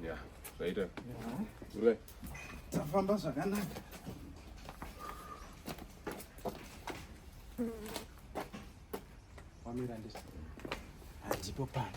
Yeah, later. Yeah. Tafamba zvakanaka. Wamira ndisi. Handipo pano.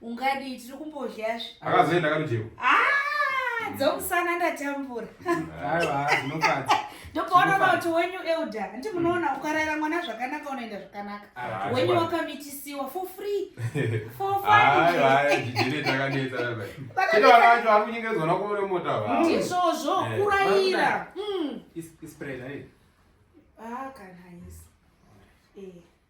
ungadii tiri kumbodyazve akazoenda karujeko ah, dzomusana ndatambura ndopaona kuti wenyu elder hanti munoona ukarayira mwana zvakanaka unoenda zvakanaka ah, wenyu wakamitisiwa for free for ndizvozvo eh, kurayira hmm. eh. ah, kana isi eh.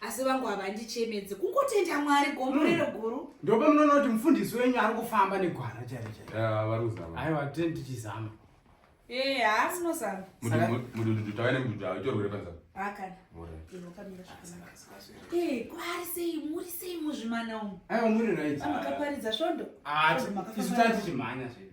asi vangu havandichemedzi kungotenda mwari gomborero hmm. guru ndopa munoona kuti mufundisi wenyu ari kufamba negwara chairo chaiaiwa tee ndichizama ee haasi nozama mudududhu tavaine mududhu avo itorwere panzaa akana inokamira zvakanaka ee kwari sei muri sei muzvimana umu aiwa muri right amakaparidza svondo ah, isu tati chimhanya zvedu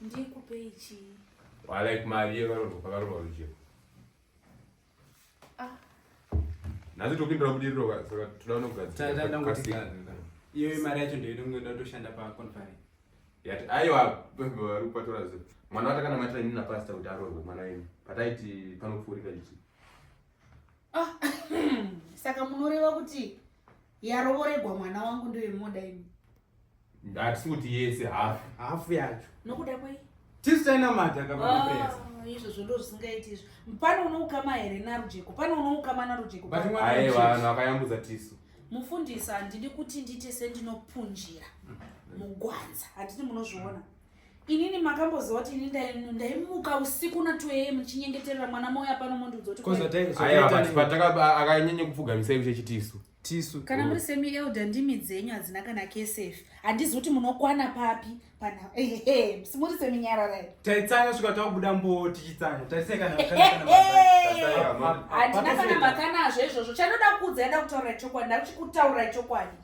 Ndikupei chii? Wa like mari yevaroorwa pakaroorwa rujeko. Ah. Nhasi topindura budiriro ka saka toda unogadzira. Tata ndangoti iyo mari yacho ndoida kungoda kutoshanda pa conference. Yati aiwa vari kupatora zve. Mwana watakanamatira ini na pastor kuti aroorwe mwana wenyu. Pataiti panopfuurika ichi. Ah. Saka munoreva kuti yarovoregwa mwana wangu ndoyemoda ini. Ndati kuti yese half. Half yacho. Nokuda kwei? Tisi tainamata kama pesa. Ah, izvozvo ndo zvisingaiti izvo. Pane unoukama here narujeko? Pane unoukama narujeko? But mwana aye vanhu vakayambudza tisu. Mufundisi handidi kuti ndite sendinopunjira mugwanza. Handidi munozviona. Inini makamboziva kuti ini ndaimuka usiku na 2 am ndichinyengeterera mwana moyo apano mondiudza kuti. Kozotai. Aye akanyanya kupfugamisa iwe chechitisu. tisu kana muri semi elder ndimi dzenyu hadzina kana ksf handizi kuti munokwana papi pana ehe muri semi nyarara taitsanya svika takubuda mbo tichitsanya tarisei kana handina kana makanazvo izvozvo chandoda kuudza yada kutaura chokwadi ndakuchikutaura chokwadi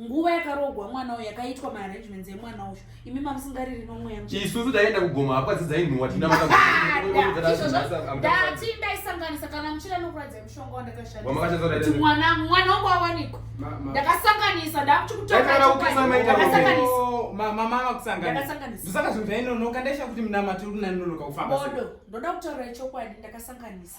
nguva yakarogwa mwana uyu yakaitwa maarrangements emwana uyu imi mamusingariri nomweya isusu taienda kugoma hapwa dzidzainuwa tindaati ndaisanganisa kana muchida nokuradza mushonga wandakashandisati mwana mwana wangu awanikwa ndakasanganisa ndakuti kutoasanganisandakasanganisaka zvinhu zvainonoka ndaisha kuti minamato uri nanonoka kufamba bodo ndoda kutaura ichokwadi ndakasanganisa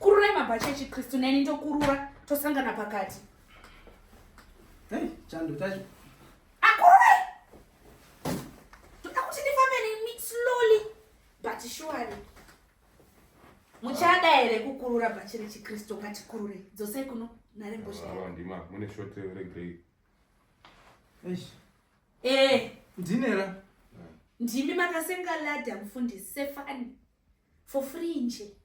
kururai mabhachi echikristu neni ndokurura tosangana pakati chando chacho akururai toda kuti ndifambeni slowly but shuwari muchada here kukurura bhachi rechikristu ngatikurure dzosei kuno nharembozhimune shot regrey eh. ndinera eh. ndimi makasenga lada mufundisi sefani for free nje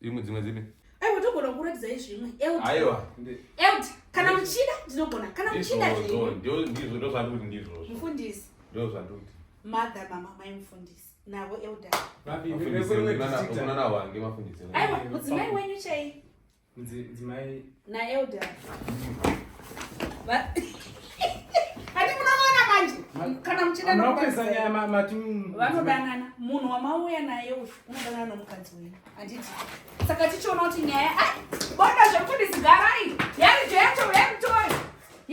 imwe dzimwe dzipi aiwa togona kukuratidzai zvimwe aiwa eld kana muchida ndinogona kana muchida ndizvo ndozvandikuti ndizvozvo mufundisi ndozvandikuti mother mama mai mufundisi navo elder aiwa mudzimai wenyu chai Dzimai. Na elder. Ba. Hadi munaona manje. Kana mchida na kupesa nyama mati. Vanodanana. Munhu wamauya naye uyu unodanana nomukadzi wenyu. Anditi. Saka tichiona kuti nyaya. Ai, bonda zvekuti ndizigarai. Yari jecho, yari